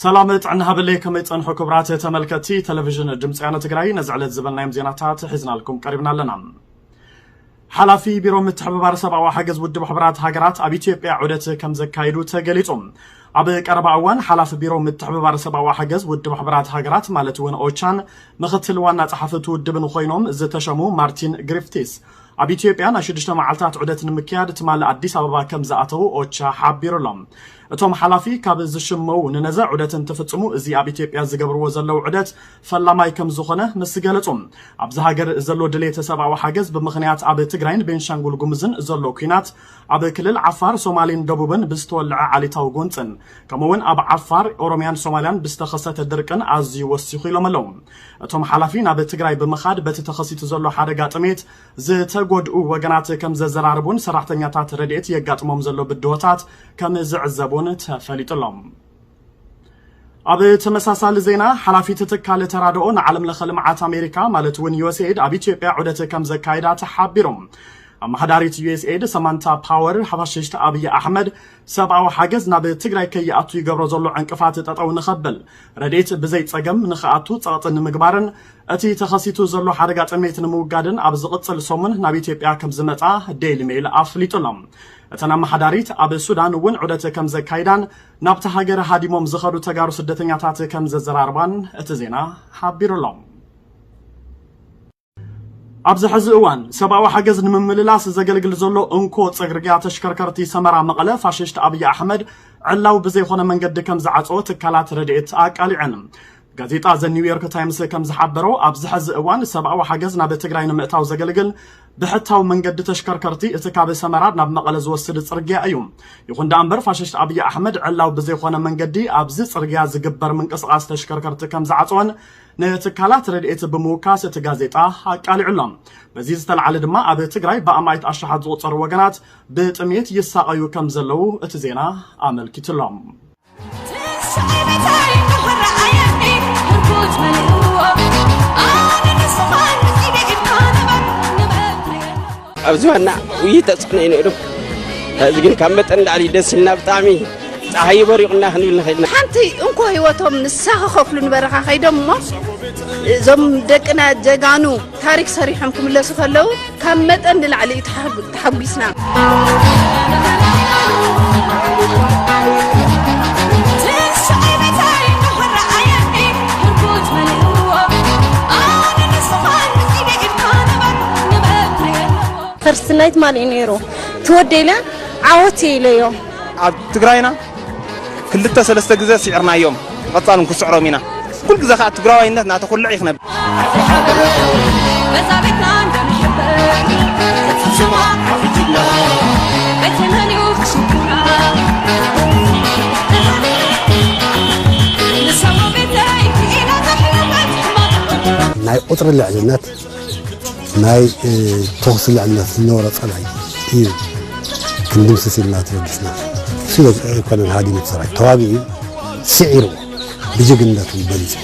ሰላም ጥዕና ሃበለይ ከመይ ጸንሑ ክብራት ተመልከቲ ቴሌቪዥን ድምፂ ያነ ትግራይ ነዚ ዕለት ዝበልናዮም ዜናታት ሒዝናልኩም ቀሪብና ኣለና ሓላፊ ቢሮ ምትሕብባር ሰብኣዊ ሓገዝ ውድብ ሕቡራት ሃገራት ኣብ ኢትዮጵያ ዑደት ከም ዘካይዱ ተገሊጹ። ኣብ ቀረባ እዋን ሓላፊ ቢሮ ምትሕብባር ሰብኣዊ ሓገዝ ውድብ ሕቡራት ሃገራት ማለት እውን ኦቻን ምክትል ዋና ጸሓፊ እቲ ውድብን ኮይኖም ዝተሸሙ ማርቲን ግሪፍቲስ ኣብ ኢትዮጵያ ናይ ሽዱሽተ መዓልታት ዑደት ንምክያድ ትማሊ ኣዲስ ኣበባ ከም ዝኣተው ኦቻ ሓቢሩ ኣሎ። እቶም ሓላፊ ካብ ዝሽመዉ ንነዘ ዑደት እንትፍጽሙ እዚ ኣብ ኢትዮጵያ ዝገብርዎ ዘለዉ ዑደት ፈላማይ ከምዝኾነ ምስ ገለጹ ኣብዚ ሃገር ዘሎ ድሌት ሰብኣዊ ሓገዝ ብምኽንያት ኣብ ትግራይን ቤንሻንጉል ጉምዝን ዘሎ ኩናት ኣብ ክልል ዓፋር ሶማሌን ደቡብን ብዝተወልዐ ዓሌታዊ ጎንጽን ከምኡውን ኣብ ዓፋር ኦሮሚያን ሶማሊያን ብዝተኸሰተ ድርቅን ኣዝዩ ወሲኹ ኢሎም ኣለዉ እቶም ሓላፊ ናብ ትግራይ ብምኻድ በቲ ተኸሲቱ ዘሎ ሓደጋ ጥሜት ዝተጎድኡ ወገናት ከምዘዘራርቡን ሰራሕተኛታት ረድኤት የጋጥሞም ዘሎ ብድሆታት ከም ዝዕዘቡን ተፈሊጡ ኣሎ። ኣብ ተመሳሳሊ ዜና ሓላፊት ትካል ተራድኦ ንዓለም ለኸ ልምዓት ኣሜሪካ ማለት እውን ዩኤስኤድ ኣብ ኢትዮጵያ ዑደት ከም ዘካይዳ ተሓቢሩ። ኣመሓዳሪት ዩኤስኤድ ሰማንታ ፓወር ሓፋሽሽቲ ኣብይ ኣሕመድ ሰብኣዊ ሓገዝ ናብ ትግራይ ከይኣቱ ይገብሮ ዘሎ ዕንቅፋት ጠጠው ንኸብል ረድኤት ብዘይ ጸገም ንኽኣቱ ጸቕጢ ንምግባርን እቲ ተኸሲቱ ዘሎ ሓደጋ ጥሜት ንምውጋድን ኣብ ዝቕጽል ሰሙን ናብ ኢትዮጵያ ከም ዝመጻ ዴይሊ ሜይል ኣፍሊጡሎም እተን ኣመሓዳሪት ኣብ ሱዳን እውን ዑደት ከም ዘካይዳን ናብታ ሃገር ሃዲሞም ዝኸዱ ተጋሩ ስደተኛታት ከም ዘዘራርባን እቲ ዜና ሓቢሩ ኣሎ። ኣብዚ ሕዚ እዋን ሰብኣዊ ሓገዝ ንምምልላስ ዘገልግል ዘሎ እንኮ ጽርግያ ተሽከርከርቲ ሰመራ መቐለ ፋሽስት ኣብዪ ኣሕመድ ዕላዊ ብዘይኮነ መንገዲ ከም ዝዓጸወ ትካላት ረድኤት ኣቃሊዐን። ጋዜጣ ዘ ኒው ዮርክ ታይምስ ከም ዝሓበሮ ኣብዚ ሐዚ እዋን ሰብኣዊ ሓገዝ ናብ ትግራይ ንምእታው ዘገልግል ብሕታዊ መንገዲ ተሽከርከርቲ እቲ ካብ ሰመራ ናብ መቐለ ዝወስድ ፅርግያ እዩ ይኹን ደኣ እምበር ፋሽስት ኣብዪ ኣሕመድ ዕላው ብዘይኮነ መንገዲ ኣብዚ ፅርግያ ዝግበር ምንቅስቓስ ተሽከርከርቲ ከም ዝዓፀወን ንትካላት ረድኤት ብምውካስ እቲ ጋዜጣ ኣቃሊዑ ኣሎ በዚ ዝተለዓለ ድማ ኣብ ትግራይ ብኣማኢት ኣሽሓት ዝቑፀሩ ወገናት ብጥሜት ይሳቐዩ ከም ዘለዉ እቲ ዜና ኣመልኪቱ ኣሎ ኣብ ዝባና ውይ ተፅዕኖ እዩ ነይሩ ሕዚ ግን ካብ መጠን ላዕሊ ደስ ኢልና ብጣዕሚ ፀሓይ በሪቑና ክንብል ንኽእል ኢና ሓንቲ እንኮ ህይወቶም ንሳ ክኸፍሉ ንበረኻ ከይዶም እሞ እዞም ደቅና ጀጋኑ ታሪክ ሰሪሖም ክምለሱ ከለው ካብ መጠን ንላዕሊ እዩ ተሓጒስና። ፈርስት ናይት ማን እዩ ነይሩ ትወደይለ ዓወት ኢለዮ ኣብ ትግራይና ክልተ ሰለስተ ግዘ ሲዕርናዮም ብቀፃሉ ንክስዕሮም ኢና ኩሉ ግዘ ከዓ ትግራዋይነት ናተኩልዕ እዩ ክነብር ናይ ቁፅሪ ልዕልነት ናይ ተኹሲ ልዕልና ዝነበሮ ፀላኢ እዩ ክንድምስስ ኢልና ተበጊስና ሽለ ኣይኮነን ሃዲሙ ሰራዊት ተዋጊኡ ስዒርዎ ብጅግንነቱ በሊፁ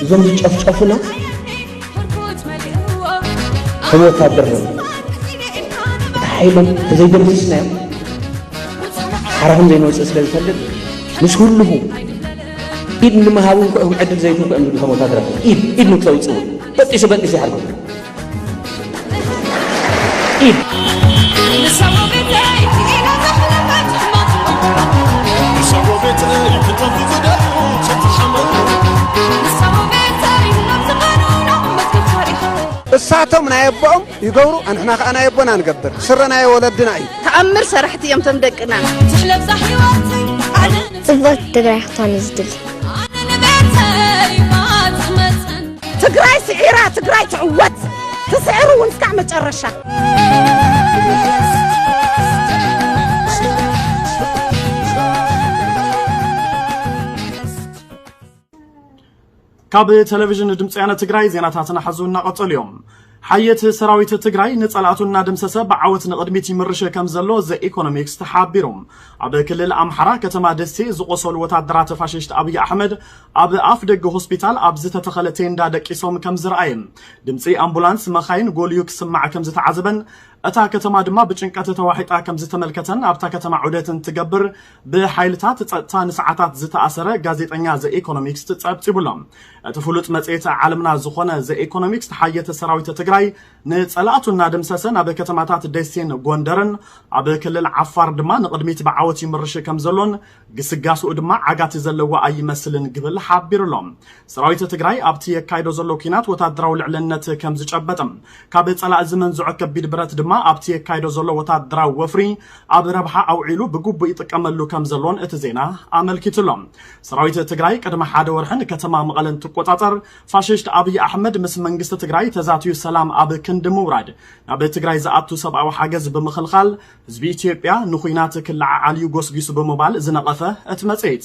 እዞም ዝጨፍጨፉና ከም ወታደር ነው እቲ ሓይሎም ተዘይደምስስናዮም ሓራኹም ዘይንወፅእ ስለ ዝፈልጥ ምስ ህልኹ ኢድ ንምሃብ እውን ዕድል ዘይትንኩ እዮም ዝብሉ ከም ወታደር ኢድ ኢድ ንክተውፅእ እውን በጢሱ በጢሱ ይሓርኩም እሳቶም ናይ ኣቦኦም ይገብሩ ኣንሕና ከዓ ናይ ኣቦና ንገብር ስረ ናይ ወለድና እዩ ተኣምር ሰራሕቲ እዮም ቶም ደቅና ጽብቕቲ ትግራይ ክትኾን እዩ ዝድሊ ትግራይ ስዒራ ትግራይ ትዕወት ትስዕር እውን እስካዕ መጨረሻ ካብ ቴሌቭዥን ድምፂ ወያነ ትግራይ ዜናታትና ሐዚ እናቐፀሉ እዮም። ሓየት ሰራዊት ትግራይ ንፀላእቱ እናደምሰሰ ብዓወት ንቕድሚት ይምርሽ ከምዘሎ ዘኢኮኖሚክስ ተሓቢሩ። ኣብ ክልል ኣምሓራ ከተማ ደሴ ዝቖሰሉ ወታደራት ፋሽስት ኣብይ ኣሕመድ ኣብ ኣፍ ደገ ሆስፒታል ኣብ ዝተተኸለ ቴንዳ ደቂሶም ከምዝረኣየን ድምፂ ኣምቡላንስ መኻይን ጎልዩ ክስማዕ ከምዝተዓዘበን እታ ከተማ ድማ ብጭንቀት ተዋሒጣ ከምዝተመልከተን ኣብታ ከተማ ዑደት እንትገብር ብሓይልታት ፀጥታ ንሰዓታት ዝተኣሰረ ጋዜጠኛ ዘኢኮኖሚክስት ፀብፂቡሎም። እቲ ፍሉጥ መጽሔት ዓለምና ዝኾነ ዘ ኤኮኖሚክስ ተሓየተ ሰራዊተ ትግራይ ንጸላእቱ እናደምሰሰ ናብ ከተማታት ደሴን ጎንደርን ኣብ ክልል ዓፋር ድማ ንቕድሚት ብዓወት ይምርሽ ከም ዘሎን ግስጋስኡ ድማ ዓጋቲ ዘለዎ ኣይመስልን ግብል ሓቢሩ ኣሎ። ሰራዊተ ትግራይ ኣብቲ የካይዶ ዘሎ ኩናት ወታደራዊ ልዕልነት ከም ዝጨበጠ ካብ ጸላእ ዝመንዝዖ ከቢድ ብረት ድማ ኣብቲ የካይዶ ዘሎ ወታደራዊ ወፍሪ ኣብ ረብሓ ኣውዒሉ ብግቡእ ይጥቀመሉ ከምዘሎን እቲ ዜና ኣመልኪቱ ኣሎ። ሰራዊት ትግራይ ቅድሚ ሓደ ወርሒ ንከተማ መቐለ እንትቆፃፀር ፋሽስት ኣብይ ኣሕመድ ምስ መንግስቲ ትግራይ ተዛትዩ ሰላም ኣብ ክንዲ ምውራድ ናብ ትግራይ ዝኣቱ ሰብኣዊ ሓገዝ ብምኽልኻል ህዝቢ ኢትዮጵያ ንኹናት ክለዓዓል ዩ ጎስጊሱ ብምባል ዝነቐፈ እቲ መፅሄት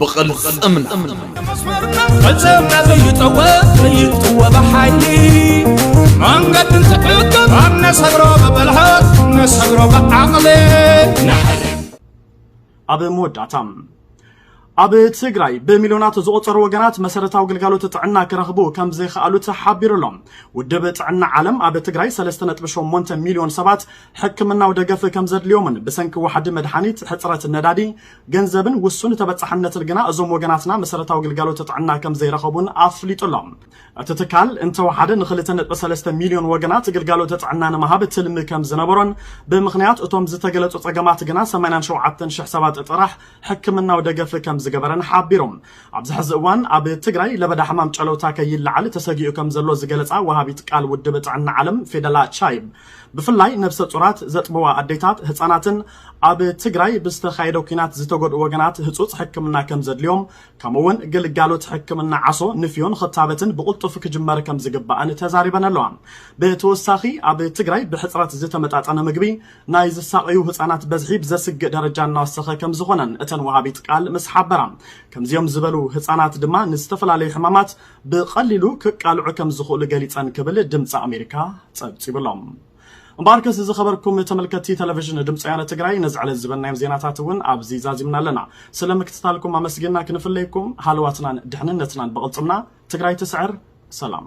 ብቕልጽምና ፈጸምና ዘይጠወ ዘይጥወ ብሓይሊ መንገዲ ዝሕግብ ኣብ ነሰግሮ ብብልሃት ነሰግሮ ብዓቕሊ ኣብ መወዳእታ ኣብ ትግራይ ብሚልዮናት ዝቑፀሩ ወገናት መሰረታዊ ግልጋሎት ጥዕና ክረኽቡ ከም ዘይከኣሉ ተሓቢሩ ኣሎ ውድብ ጥዕና ዓለም ኣብ ትግራይ 3.8 ሚልዮን ሰባት ሕክምናዊ ደገፍ ከም ዘድልዮምን ብሰንኪ ዋሕዲ መድሓኒት ሕፅረት ነዳዲ ገንዘብን ውሱን ተበፃሕነትን ግና እዞም ወገናትና መሰረታዊ ግልጋሎት ጥዕና ከም ዘይረኸቡን ኣፍሊጡ ኣሎ። እቲ ትካል እንተወሓደ ንክልተ ነጥቢ ሰለስተ ሚልዮን ወገናት ግልጋሎት ጥዕና ንምሃብ ትልሚ ከም ዝነበሮን ብምኽንያት እቶም ዝተገለፁ ፀገማት ግና ሰማንያን ሸውዓተን ሽሕ ሰባት ጥራሕ ሕክምናዊ ደገፍ ከም ዝገበረን ሓቢሩ። ኣብዚ ሕዚ እዋን ኣብ ትግራይ ለበዳ ሕማም ጨለውታ ከይለዓል ተሰጊኡ ከም ዘሎ ዝገለፃ ወሃቢት ቃል ውድብ ጥዕና ዓለም ፌደላ ቻይብ ብፍላይ ነብሰ ፁራት፣ ዘጥብዋ ኣዴታት፣ ህፃናትን ኣብ ትግራይ ብዝተኻየደ ኲናት ዝተጎድኡ ወገናት ህጹጽ ሕክምና ከም ዘድልዮም ከምኡ'ውን ግልጋሎት ሕክምና ዓሶ፣ ንፍዮን ኽታበትን ብቕልጡፍ ክጅመር ከም ዝግባእን ተዛሪበን ኣለዋ። ብተወሳኺ ኣብ ትግራይ ብሕጽረት ዝተመጣጠነ ምግቢ ናይ ዝሳቐዩ ህጻናት በዝሒ ብዘስግእ ደረጃ እናወሰኸ ከም ዝኾነን እተን ወሃቢት ቃል ምስ ሓበራ፣ ከምዚኦም ዝበሉ ህጻናት ድማ ንዝተፈላለዩ ሕማማት ብቐሊሉ ክቃልዑ ከም ዝኽእሉ ገሊጸን ክብል ድምጺ ኣሜሪካ ጸብጺቡ'ሎ። እምበኣርከስ እዚ ኸበርኩም ተመልከቲ ተለቪዥን ድምፂ ወያነ ትግራይ ነዚ ዕለት ዝበልናዮም ዜናታት እውን ኣብዚ ዛዚምና ኣለና። ስለ ምክትታልኩም ኣመስጊንና ክንፍለየኩም ሃለዋትናን ድሕንነትናን ብቕልፅምና ትግራይ ትስዕር። ሰላም።